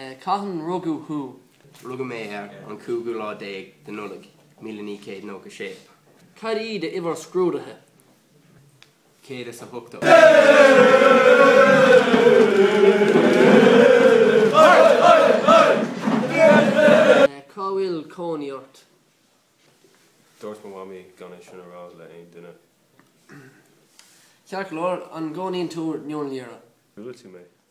Cathain rugadh thú? Rugadh mé ar an cúigiú lá déag de Nollaig, míle naoi céad nócha sé. Cad í do uimhir scrúdaithe? céad is a hochtó. Cá bhfuil cónaí ort? Dúirt mo mhamaí gan é sin a rá le aon duine. Ceart go leor, an gcónaíonn tú i nDún Laoghaire? Bhuail tú mé.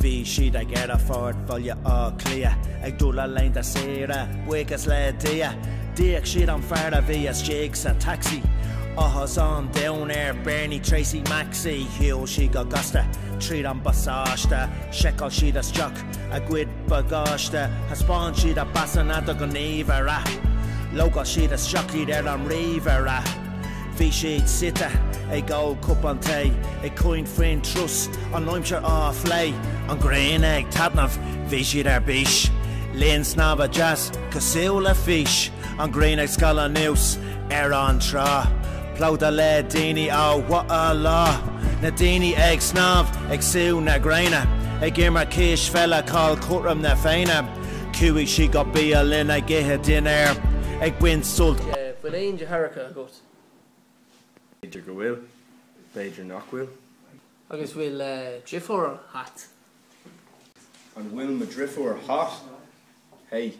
Bhí siad ag Aerfort Bhaile Átha Cliath, ag dul le linn a saoire, buíochas le Dia. D'íoc siad an fear a bhí istigh sa taxi, áthas an domhain ar Bernie Tracey Maxi. Shiúil siad go gasta tríd an bpasáiste, sheiceáil siad isteach a gcuid bagáiste, thaispeáin siad a bpasanna do ghníomhaire, logáil siad isteach iad ar an ríomhaire. Bhí siad suite ag ól cupán tae, ag caint faoin turas, an aimsir á phlé, an ghrian ag taitneamh, bhí siad ar bís, linn snámha deas cosúil le fís, an ghrian ag scaladh anuas ar an trá, plódaithe le daoine ba mhaith an lá, na daoine ag snámh, ag sú na gréine, ag imirt cispheile, cá bhfuil cothrom na Féinne. Chuaigh siad go bialann ag ithe dinnéir, ag baint sult. bhfuil aon deartháireacha agat? B'fhéidir go bhfuil, b'fhéidir nach bhfuil. Agus bhfuil driofúr hot? An bhfuil mo dhriofúr hot? Hey,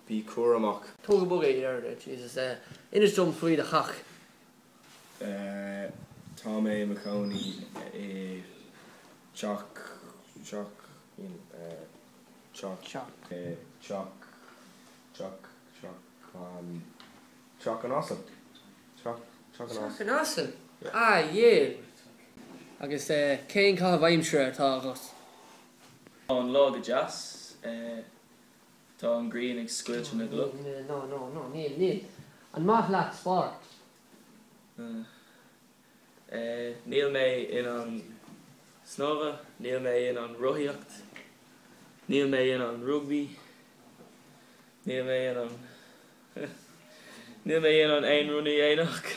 bí cúramach! Tóg go bog é, Jesus. Inis dom faoi do theach. Tá mé i mo chónaí i teach, teach, you know, teach, teach, teach, teach, teach. Teach an asal? An asal? Ah yeah. Agus eh cén caitheamh aimsire atá agat? Tá an lá go deas. Eh tá an ghrian ag scoilteadh na gcloch. No no no níl níl. An maith leat spórt? Eh. Níl mé in ann snámha. Níl mé in ann rothaíocht. Níl mé in ann rugbaí. Níl mé in ann. Níl mé in ann aon rud a dhéanamh.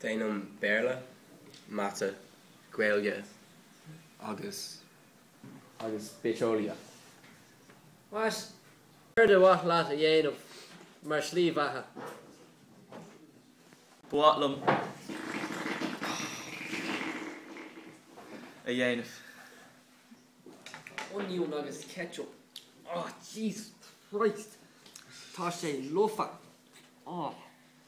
Déanaim Béarla, Mata, Gaeilge agus agus Bitheolaíocht. Céard ba mhaith leat a dhéanamh mar shlí bheatha? Ba mhaith liom a dhéanamh. Onion agus ketchup. Oh Jesus Christ! Tá sé lofa! Oh!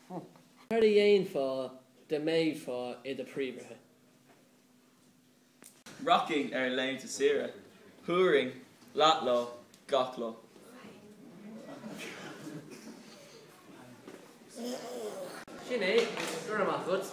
Céard a dhéanfá da mbeifeá i do phríomhoide? Rachainn ar laethanta saoire, thabharfainn leathlá gach lá. Sin é. Go raibh maith agat.